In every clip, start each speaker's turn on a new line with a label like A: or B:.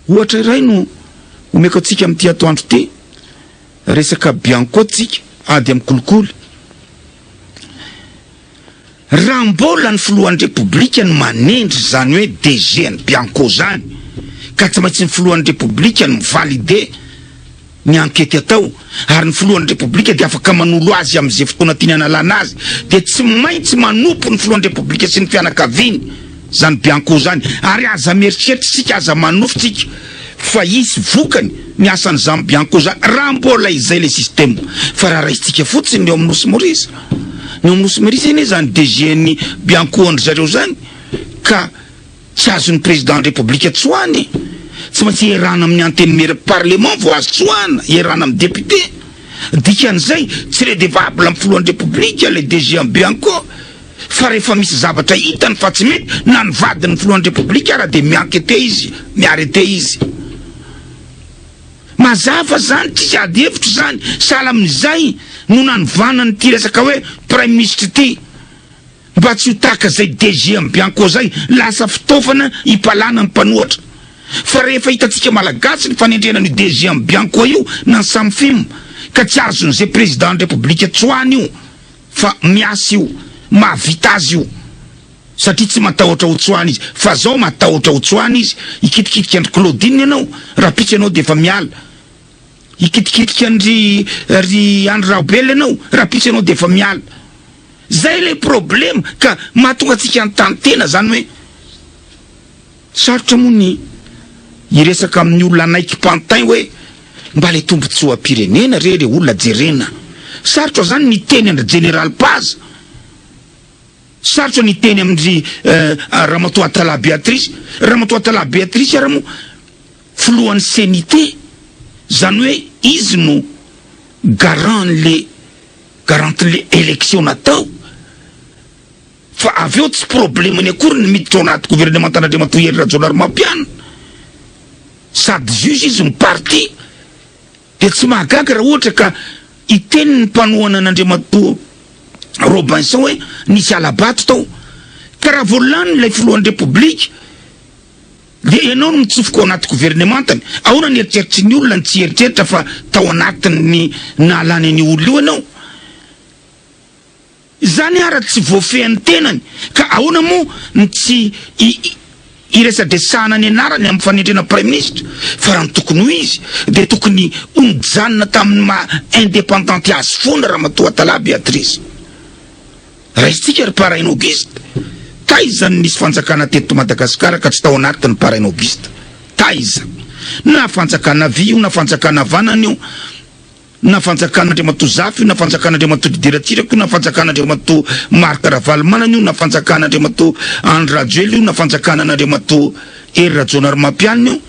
A: Ohatra iray no omeko antsika amin'ity atoandro ity, resaka bianco tsika, ady amin'ny kolikoly. Raha mbola ny filohan'ny Repoblika no manendry izany hoe DG an'i Bianco izany ka tsy maintsy ny filohan'ny Repoblika no mi-valide ny ankety atao ary ny filohan'ny Repoblika dia afaka manolo azy amin'izay fotoana tiany hanalana azy dia tsy maintsy manompo ny filohan'ny Repoblika sy ny fianakaviany Zany bianco zany ary aza mieritreritra isika aza manofy tsika fa hisy vokany ny asan zany bianco zany raha mbola izay le système fa raha raisintsika fotsiny ny eo amin'ny nosy moris ny eo amin'ny nosy moris anie zany DG ny bianco an-dry zareo zany ka tsy azon'ny président ny république tsoahina e tsy maintsy iarahana amin'ny antenimieran'ny parlement vao azo tsoahina iarahana amin'ny député dikan'izay tsy redevable amin'ny filohan'ny république le DG an'ny bianco fa rehefa misy zavatra hitany fa tsy mety na ny vadin'ny filohan'ny repoblika ara dia mi-enquete izy, mi-arrete izy. Mazava izany, tsisy ady hevitra izany, sahala amin'izay no nanovana an'ity resaka hoe praiminisitra ity mba tsy ho tahaka izay DG am Bianco izay, lasa fitaovana hipalana ny mpanohatra. Fa rehefa hitantsika malagasy ny fanendrena an'io DG am Bianco io na ny Samfim ka tsy azon'izay prezidan'ny repoblika tsoany io, Fa miasa io, mahavita azy io satria tsy matahotra ho tsoahina izy fa zao matahotra ho tsoahina izy, hikitikitika an-dry Claudine ianao raha pitsy ianao dia efa miala, hikitikitika an-dry ry Andry Rahobela ianao raha pitsy ianao dia efa miala. Zay ilay problème ka mahatonga antsika hanontany tena zany hoe. Sarotra moa ny hiresaka amin'ny olona hanaiky pantin hoe mba le tombotsoam-pirenena re le olona jerena. Sarotra zany ny hiteny an-dry Jeneraly Paza. Sarotra ny hiteny amin-dry Ramatoa Atalahy Beatrice. Ramatoa Atalahy Beatrice ary moa filohan'ny CNIT. Zany hoe izy no garant an'le garantin'le election natao. Fa avy eo tsy problemany akory ny miditra ao anaty governemantan'Andriamatoa Hery Rajaonarimampianina. Sady juge izy no parti. Dia tsy mahagaga raha ohatra ka hiteny ny mpanohana an'Andriamatoa Robinson hoe nisy hala-bato tao. Ka raha vao lany ilay filohan'ny Repoblika dia ianao no mitsofoka ao anaty governemantany. Ahoana ny eritreritry ny olona ny tsy hieritreritra fa tao anatin'ny nahalany an'io olona io ianao? Izany ara tsy voafehin'ny tenany ka ahoana moa ny tsy hiresadresahana ny anarany amin'ny fanendrena praiminisitra fa raha ny tokony ho izy dia tokony ho nijanona tamin'ny maha indepandanty azy foana Ramatoa Tala Beatrice. Raisintsika ry Parain Auguste, taiza no nisy fanjakana teto Madagasikara ka tsy tao anatiny Parain Auguste? Taiza? Na fanjakana havia io na fanjakana havanana io, na fanjakan'Andriamatoa Zafy io na fanjakan'Andriamatoa Didier Ratsiraka io na fanjakan'Andriamatoa Marc Ravalomanana io na fanjakan'Andriamatoa Andry Rajoelina io na fanjakanan'Andriamatoa Hery Rajaonarimampianina io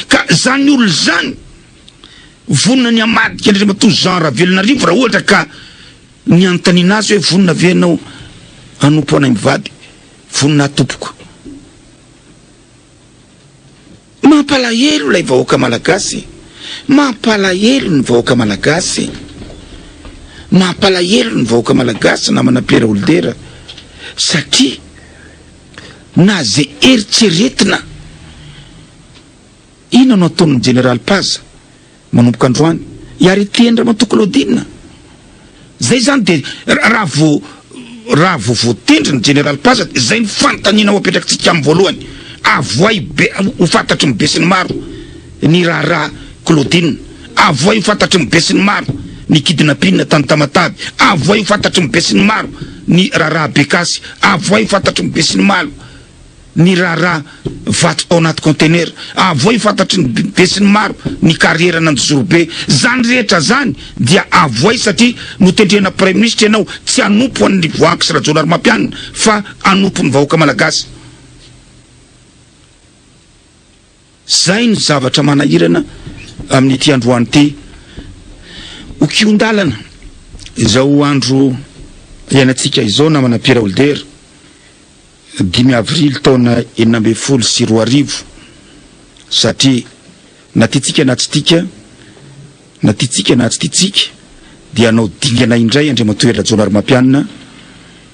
A: ka zany olona izany vonona ny hamadika an'Andriamatoa Jean Ravelonarivo raha ohatra ka ny anontaniana azy hoe vonona ve ianao hanompo anay mivady vonona tompoko. Mampalahelo ilay vahoaka malagasy Mampalahelo ny vahoaka malagasy Mampalahelo ny vahoaka malagasy namana Pierre Holder satria na ze eritreretina Inona no ataon'ny jeneraly Paza? Manomboka androany hiaretiany ramatoa Claudine. Zay zany de raha vao raha vao voatendry ny jeneraly Paza de zay ny fanontaniana ho apetrakitsika aminy voalohany, avohay be ho fantatry ny besinimaro ny raharaha Claudine, avohay ho fantatry ny besinimaro ny kidnapina tany Tamatave, avohay ho fantatry ny besinimaro ny raharaha Bekasy, avohay ho fantatry ny besinimalo. Niraharaha vato tao anaty kaontenera. Avohay fantatry ny besinimaro ny karieran' Andozorobe. Zany rehetra zany dia avohay satria notendrena praiminisitra ianao tsy hanompo an' ny Voahangy sy Rajaonarimampianina fa hanompo ny vahoaka malagasy. Zay ny zavatra manahirana amin'ity androany ity. Ho kihon-dalana izao andro iainantsika izao namana Pierre Holder, dimy avrily taona enina ambin'ny folo sy roa arivo, satria na tiantsika na tsy tika, Na tiantsika na tsy tiantsika dia hanao dingana indray Andriamatoa Hery Rajaonarimampianina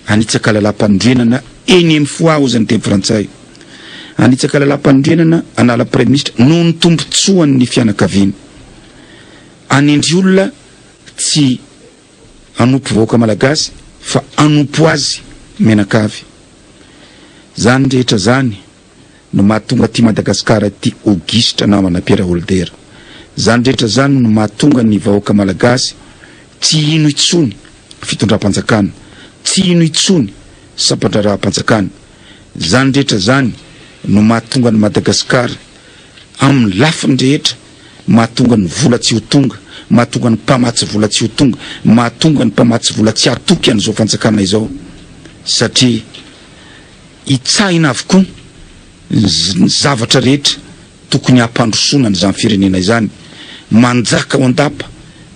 A: hanitsaka lalàmpanorenana eny amin'ny Foix hozy ny teny frantsay. Hanitsaka lalàmpanorenana hanala Praiminisitra noho ny tombontsoan'ny fianakaviana. Hanendry olona tsy hanompo vahoaka malagasy fa hanompo azy mianakavy. Izany rehetra izany. no mahatonga aty Madagascar aty Auguste namana Pierre Holder zany rehetra zany no mahatonga ny vahoaka Malagasy tsy hino intsony fitondram-panjakana tsy hino intsony sampandraharaham-panjakana zany rehetra zany no mahatonga ny Madagascar aminy lafiny rehetra mahatonga ny vola tsy ho tonga mahatonga ny mpamatsy vola tsy ho tonga mahatonga ny mpamatsy vola tsy hatoky an'izao fanjakana izao satria Hitsahina avokoa ny zavatra rehetra tokony hampandrosoana an'izany firenena izany. Manjaka ao an-dapa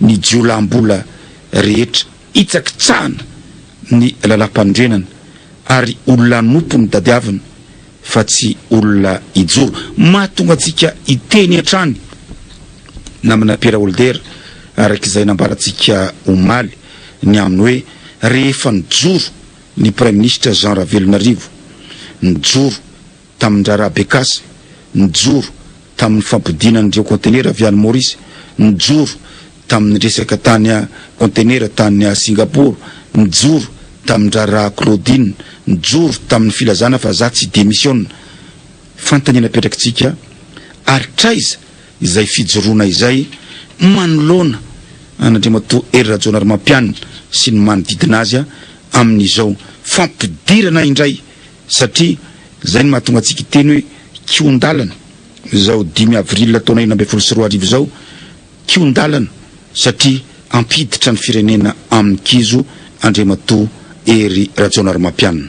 A: ny jiolahim-bola rehetra. Hitsakitsahina ny lalam-panorenana ary ho lanopy ny tadiavina fa tsy olona hijoro. Mahatonga antsika hiteny hatrany namana Pierre Holder araka izay nambarantsika omaly ny amin'ny hoe rehefa nijoro Ny Praiminisitra Jean Ravelonarivo nijoro tamin'ny raharaha Bekasy, nijoro tamin'ny fampodiana ireo kaontenera avy any Maorisy, nijoro tamin'ny resaka tany kaontenera tany Singapaoro, nijoro tamin'ny raharaha Claudine, nijoro tamin'ny filazana fa za tsy demisiona. Fantany ny napetrakitsika ary traiza? izay fijoroana izay manoloana an'Andriamatoa Hery Rajaonarimampianina sy ny manodidina azy amin'izao fampidirana indray satria izay no mahatonga antsika hiteny hoe kihon-dalana izao dimy avril taona enina ambin'ny folo sy roa arivo izao kihon-dalana satria hampiditra ny firenena amin'ny kizo Andriamatoa Hery Rajaonarimampianina.